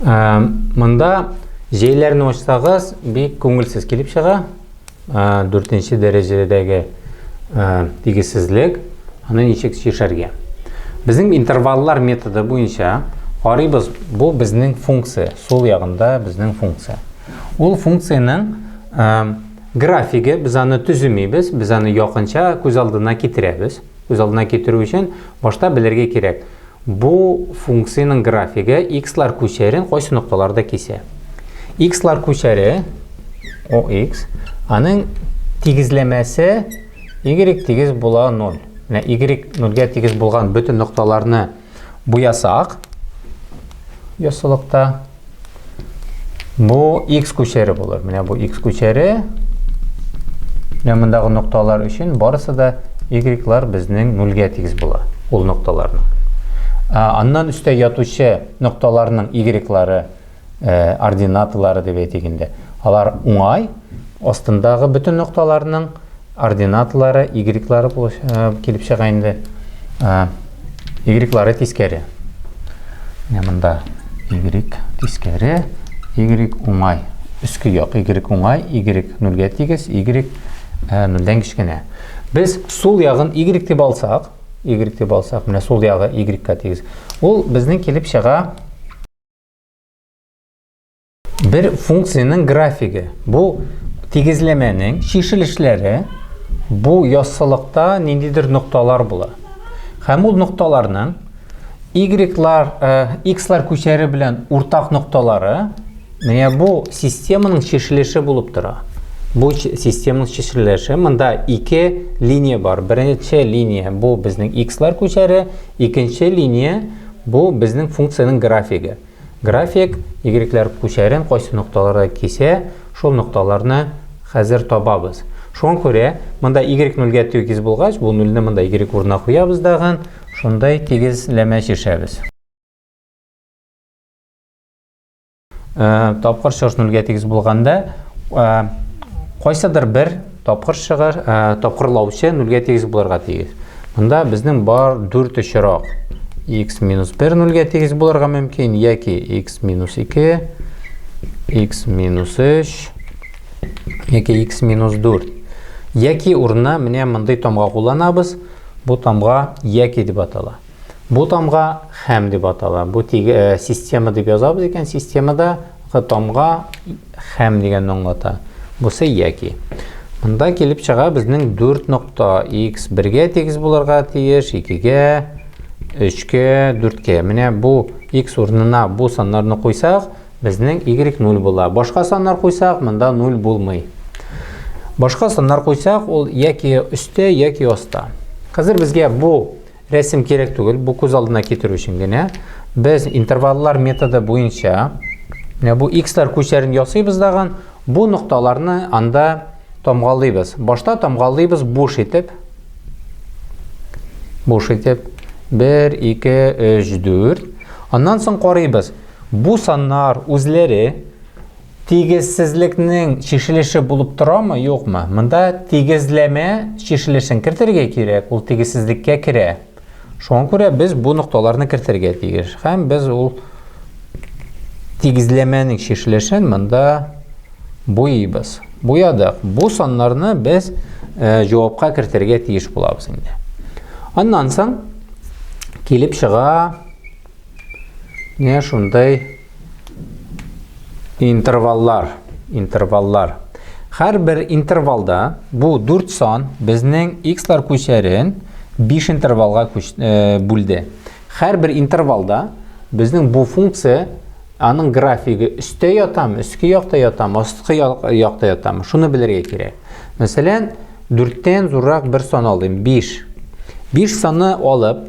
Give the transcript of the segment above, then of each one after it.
Монда җәйләрне ачсагыз, бик күңелсез килеп чыга. Дүртенче дәрәҗәдәге тигезсезлек, аны ничек чишәргә? Безнең интерваллар методы буенча карыйбыз, бу безнең функция, сул ягында безнең функция. Ул функциянең графиге, без аны төземибез, без аны якынча күз алдына китерәбез. Күз алдына китерү өчен башта белергә кирәк, Бу функциянең графигы икслар күчәрен кайсы нокталарда кисә? Икслар күчәре OX, аның тигезләмәсе Y тигез була 0. Менә Y 0-гә тигез булган бөтен нокталарны буясак, яссылыкта Бу x күчәре булыр. Менә бу x күчәре. Менә мондагы нокталар өчен барысы да y-лар безнең 0-гә тигез була. Ул нокталарның. Аннан өстә ятучы нокталарның y-лары, э, ординаталары дип әйтик инде. Алар уңай, астындагы бөтен нокталарның Ординатлары, игреклары килеп чыга инде. Игреклары тискәре. Менә монда игрек тискәре, игрек уңай. Өске як игрек уңай, игрек нөлгә тигез, игрек нөлдән кечкенә. Без сул ягын игрек дип алсак, игрек дип алсак, менә сул ягы игрекка тигез. Ул безнең килеп чыга Бер функциянең графиге. Бу тигезләмәнең чишелешләре бу яссылыкта ниндидер нокталар була. Һәм ул нокталарның y-лар, x-лар э, күчәре белән уртак нокталары менә бу системаның чишелеше булып тора. Бу системаның чишелеше монда ике линия бар. Беренче линия бу безнең x-лар күчәре, икенче линия бу безнең функциянең графигы. График, игрекләр күчәрен кайсы нокталарда кисә, шул нокталарны хәзер табабыз. Шуңа күрә, монда игрек нульгә тигез булгач, бу нульне монда игрек урынына куябыз дагын, шундай тигезләмә чишәбез. Тапкыр чыгыш нульгә тигез булганда, кайсыдыр бер Тапкыр чыгар, ә, тапкырлаучы нульгә тигез булырга тигез. Монда безнең бар дүрт очрак. x минус 1 нульгә тигез булырга мөмкин, яки x минус 2, x минус 3, яки x минус 4. Яки урынына менә мондый тамга кулланабыз. Бу тамга яки дип атала. Бу тамга хәм дип атала. Бу тиге э, система дип язабыз икән, системада тамга хәм дигән аңлата. Бусы яки. Монда килеп чыга безнең 4 нокта x 1-гә тигез булырга тиеш, 2-гә, 3-кә, 4-кә. Менә бу x урынына бу саннарны куйсак, безнең y 0 була. Башка саннар куйсак, монда 0 булмый. Башка саннар куйсак, ул яки өстә, яки аста. Хәзер безгә бу Рәсем кирәк түгел, бу күз алдына китерү өчен генә. Без интерваллар методы буенча менә бу x-лар күчәрен ясыйбыз даган, бу нокталарны анда тамгалыйбыз. Башта тамгалыйбыз буш итеп. Буш итеп 1 2 3 4. Аннан соң карыйбыз. Бу саннар үзләре Тигезсезлекнең чишелеше булып торамы, юкмы? Монда тигезләмә чишелешен кертергә кирәк, ул тигезсезлеккә керә. Шуңа күрә без бу нокталарны кертергә тиеш. Һәм без ул тигезләмәнең чишелешен монда буйыбыз. Буядык. Бу саннарны без э, җавапка кертергә тиеш булабыз инде. Аннан соң килеп чыга не шундай Интерваллар, интерваллар. Һәрбер интервалда бу 4 сан безнең x-лар күчәрен 5 интервалга э, бүлде. Һәрбер интервалда безнең бу функция аның графигы өстә ятам, өске якта ятам, астыкы якта ятам. Шуны белергә кирәк. Мәсәлән, 4-тән зуррак бер сан алдым, 5. 5 санны алып,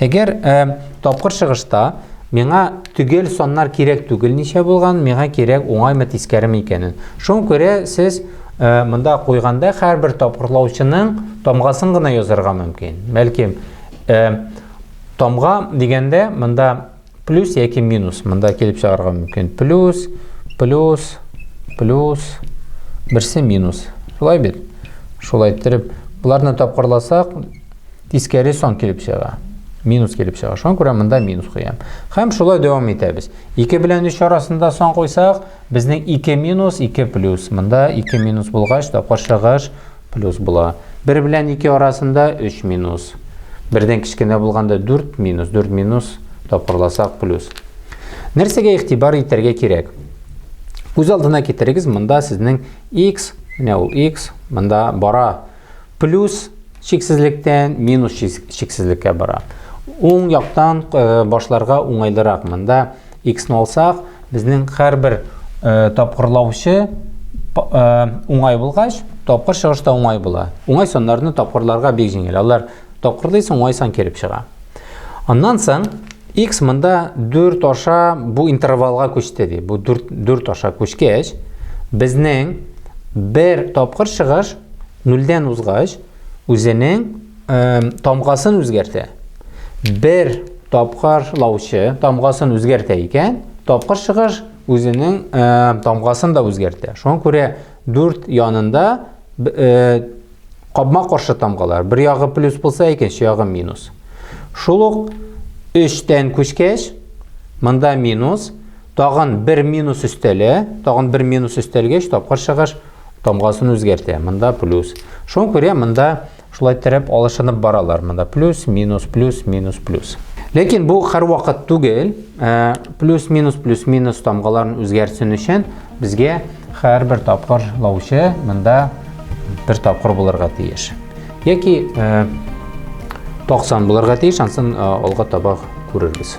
Әгәр ә, тапкыр чыгышта миңа төгәл саннар кирәк түгел ничә булган, миңа кирәк уңаймы тискәреме икәнен. Шуңа күрә сез ә, монда куйганда һәрбер тапкырлаучының тамгасын гына язарга мөмкин. Бәлки ә, тамга дигәндә монда Плюс яки минус. Монда килеп чыгарга мөмкин. Плюс, плюс, плюс, берсе минус. Шулай бит? Шулай иттереп, бұларны тапқырласақ, тискәре сон килеп чыга. Минус килеп чыга. Шуңа күрә монда минус куям. Һәм шулай дәвам итәбез. 2 белән 3 арасында сон куйсак, безнең 2 минус, 2 плюс. Монда 2 минус булгач, тапкыр чыгыш плюс була. Бер белән ике арасында өч минус. Бердән кечкенә булганда дүрт минус, дүрт минус тапкырласак плюс. Нәрсәгә игътибар итәргә кирәк? Үз алдына китерегез, монда сезнең x, менә ул x, монда бара. Плюс чиксезлектән минус чиксезлеккә бара. Уң яктан э, башларга уңайлырак. Монда x ны алсак, безнең һәрбер э, тапкырлаучы э, уңай булгач, тапкыр чыгыш та уңай була. Уңай саннарны тапкырларга бик җиңел. Алар тапкырлыйсың, уңай сан килеп чыга. Аннан соң x монда 4 аша бу интервалга күчте ди. Бу 4 4 аша күчкәч, безнең бер тапкыр чыгыш 0 дән узгач, үзенең тамгасын үзгәртә. Бер тапкыр лаучы тамгасын үзгәртә икән, тапкыр чыгыш үзенең тамгасын да үзгәртә. Шуңа күрә дүрт янында капма каршы тамгалар. Бер ягы плюс булса, икенче ягы минус. Шул ук 3-тән күчкәч, монда минус, тагын бер минус өстәлә, тагын бер минус өстәлгәч, тапкыр чыгыш тамгасын үзгәртә. Монда плюс. Шуңа күрә монда Шулай терәп, алышынып баралар монда. Плюс, минус, плюс, минус, плюс. Ләкин бу һәрвакыт түгел. Ә, плюс, минус, плюс, минус тамгаларын үзгәрсен өчен безгә һәрбер тапкыр лаучы монда бер тапкыр булырга тиеш. Яки 90 ә, булырга тиеш, ансын ә, алга таба күрербез.